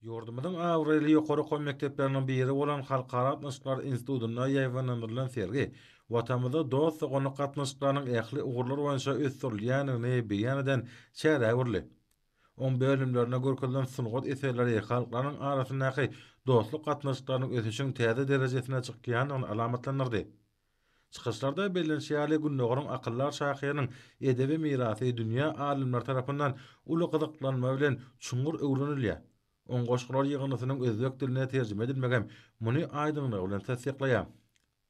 Ýurdumyzyň abraýly ýokary okuw mekdepleriniň biri bolan Halkara gatnaşyklar institutynda ýaýbaňlandyrylan sergi Watanymyzda dost-doganlyk gatnaşyklarynyň ähli ugurlar boýunça ösdürilýändigini beýan eden çärä öwrüldi. Oň bölümlerinde görkezilen sungat eserleri halklaryň arasyndaky dostluk gatnaşyklarynyň ösüşiň täze derejesine çykýandygyny alamatlandyrdy. Çykyşlarda bellenişi ýaly, Gündogaryň akyldar şahyrynyň edebi mirasy dünýä alymlary tarapyndan uly gyzyklanma bilen çuňňur öwrenilýär. Oň goşgular ýygyndysynyň özbek diline terjime edilmegem muny aýdyňlygy bilen tassyklaýar.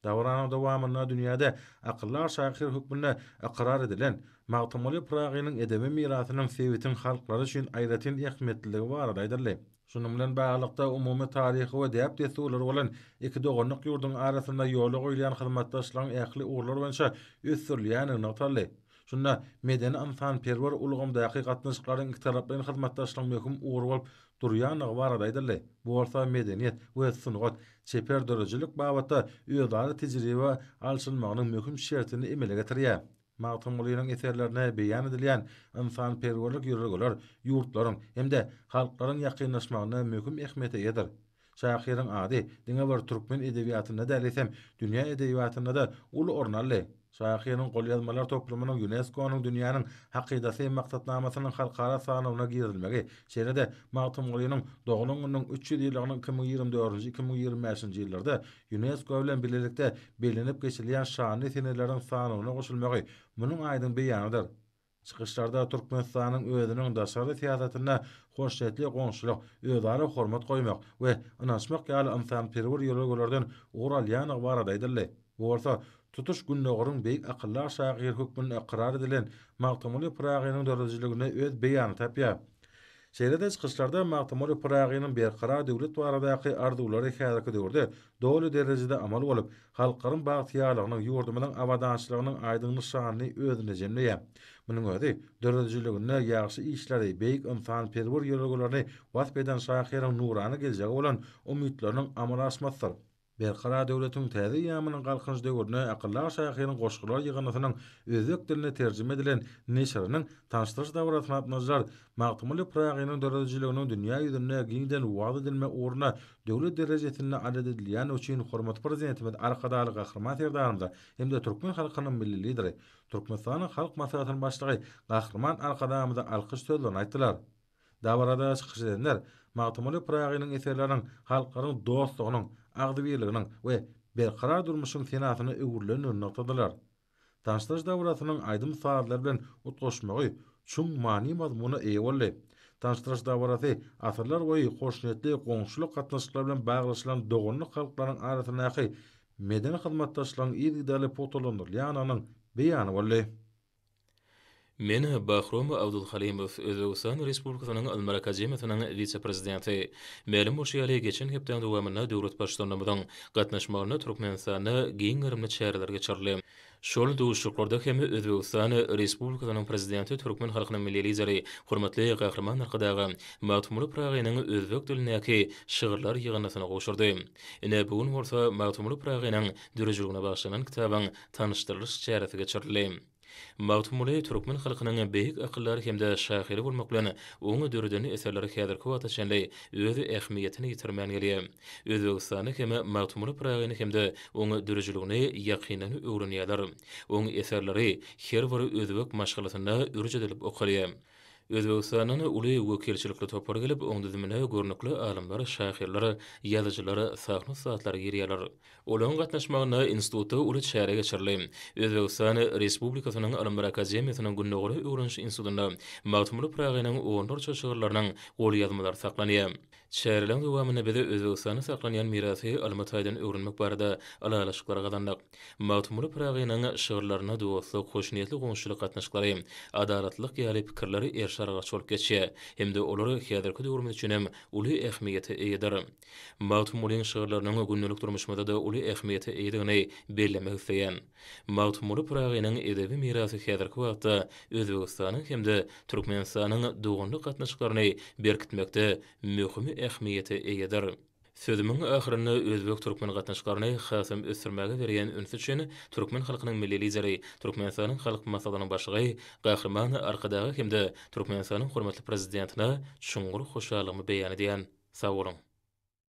Dabaranyň dowamynda dünýäde akyldar şahyr hökmünde ykrar edilen Magtymguly Pyragynyň edebi mirasynyň sebitiň halklary üçin aýratyn ähmiýetliligi barada aýdyldy. Şunuň bilen baglylykda, umumy taryhy we däp-dessurlary bolan iki doganlyk ýurduň arasynda ýola goýulýan hyzmatdaşlygyň ähli ugurlar boýunça ösdürilýändigi nygtaldy. Şunda medeni-ynsanperwer ulgamdaky gatnaşyklaryň ikitaraplaýyn hyzmatdaşlygyň möhüm ugry bolup durýandygy barada aýdyldy, bu bolsa medeniýet we sungat, çeper döredijilik babatda özara tejribe alşylmagynyň möhüm şertini emele getirýär. Magtymgulynyň eserlerinde beýan edilýän ynsanperwerlik ýörelgeler ýurtlaryň hem-de halklaryň ýakynlaşmagynda möhüm ähmiýete eýedir. Şahyryň ady diňe bir türkmen edebiýatynda däl, eýsem, dünýä edebiýatynda-da uly orun aldy. Şahyryň golýazmalar toplumynyň ÝUNESKO-nyň Dünýäniň hakydasy maksatnamasynyň halkara sanawyna girizilmegi, şeýle-de Magtymgulynyň doglan gününiň üç ýüz ýyllygynyň iki müň ýigrimi dördünji-iki müň ýigrimi bäşinji ýyllarda Ýunesko bilen bilelikde bellenip geçilýän şanly seneleriň sanawyna goşulmagy munuň aýdyň beýanydyr. Çykyşlarda Türkmenistanyň özüniň daşary syýasatynda hoşniýetli goňşulyk, özara hormat goýmak we ynanyşmak ýaly ynsanperwer ýörelgelerden ugur alýandygy barada aýdyldy. Bu bolsa tutuş Gündogaryň beýik akyldar şahyry hökmünde ykrar edilen Magtymguly Pyragynyň döredijiliginde öz beýanyny tapýar. Şeýle-de çykyşlarda Magtymguly Pyragynyň berkarar döwlet baradaky arzuwlary häzirki döwürde doly derejede amal bolup, halklaryň bagtyýarlygynyň, ýurdumyzyň abadançylygynyň aýdyň nyşanyny özünde jemleýär. Munuň özi, döredijiliginde ýagşy işleri, beýik ynsanperwer ýörelgelerini wasp eden şahyryň nurana geljege bolan umytlarynyň amala aşmasydyr. Berkarar döwletiň täze eýýamynyň Galkynyş döwrüne akyldar şahyryň goşgular ýygyndysynyň özbek diline terjime edilen neşiriniň tanyşdyryş dabarasyna gatnaşyjylar Magtymguly Pyragynyň döredijiliginiň dünýä ýüzünde giňden wagyz edilme ugruna döwlet derejesinde adat edilýäni üçin hormatly Prezidentimiz Arkadagly Gahryman Serdarymyza hem-de türkmen halkynyň Milli Lideri, Türkmenistanyň Halk Maslahatynyň Başlygy Gahryman Arkadagymyza alkyş sözlerini aýtdylar. Dabarada çykyş edenler Magtymguly Pyragynyň eserleriniň halklaryň dostlugynyň, agzybirliginiň we berkarar durmuşyň senasyna öwrülendigini nygtadylar. Tanyşdyryş dabarasynyň aýdym-sazlar bilen utgaşmagy çuň many-mazmuna eýe boldy. Tanyşdyryş dabarasy asyrlar boýy hoşniýetli goňşulyk gatnaşyklary bilen baglaşylan doganlyk halklaryň arasyndaky medeni hyzmatdaşlygyň yzygiderli pugtalandyrylýandygynyň beýany boldy. Men Bahrom Abdulhalymow, Özbegistan Respublikasynyň Ylymlar akademiýasynyň wise-prezidenti. Mälim bolşy ýaly, geçen hepdäniň dowamynda döwlet Baştutanymyzyň gatnaşmagynda Türkmenistanda giň gerimli çäreler geçirildi. Şol duşuşyklarda hem Özbegistan Respublikasynyň Prezidenti türkmen halkynyň Milli Lideri, hormatly Gahryman Arkadaga Magtymguly Pyragynyň özbek dilindäki şygyrlar ýygyndysyny gowşurdy. Ine, bu gün bolsa Magtymguly Pyragynyň döredijiligine bagyşlanan kitabyň tanyşdyrylyş çäresi geçirildi. Magtymguly türkmen halkynyň beýik akyldary hem-de şahyry bolmak bilen, onuň döreden eserleri häzirki wagta çenli öz ähmiýetini ýitirmän gelýär. Özbegistanda hem Magtymguly Pyragyny hem-de oň dörüjiligini ýakyndan öwrenýärler. Oň eserleri her bir özbek maşgalasynda ürç edilip okalýar. Özbegistandan uly wekilçilikli topar gelip, oň düzümine görnükli alymlar, şahyrlar, ýazyjylar, sahna ussatlar girýärler. Olaryň gatnaşmagynda institutda uly çäre geçirildi. Özbegistan Respublikasynyň Ylymlar akademiýasynyň Gündogaryň öwreniş institutynda Magtymguly Pyragynyň onlarça şygyrlarynyň golýazmalary saklanýar. Çäreleriň dowamynda biz Özbegistanda saklanýan mirasy ylmy taýdan öwrenmek barada ylalaşyklar gazandyk. Magtymguly Pyragynyň şygyrlarynda dostluk, hoşniýetli goňşuçylyk gatnaşyklary, adalatlylyk ýaly pikirler erşaraglaç bolup geçýär hem-de olar häzirki döwrümiz üçin hem uly ähmiýete eýedir. Magtymgulyň şygyrlarynyň gündelik durmuşymyzda-da uly ähmiýete eýedigini bellemek isleýän. Magtymguly Pyragynyň edebi mirasy häzirki wagtda Özbegistanyň hem-de Türkmenistanyň doganlyk gatnaşyklaryny berkitmekde möhüm ähmiýete eýedir. Sözümiň ahyrynda özbek-türkmen gatnaşyklaryny hasam ösdürmäge berýän ünsi üçin türkmen halkynyň Milli Lideri, Türkmenistanyň Halk Maslahatynyň Başlygy Gahryman Arkadaga hem-de Türkmenistanyň hormatly Prezidentine çuňňur hoşallygymy beýan edýän. Sag boluň!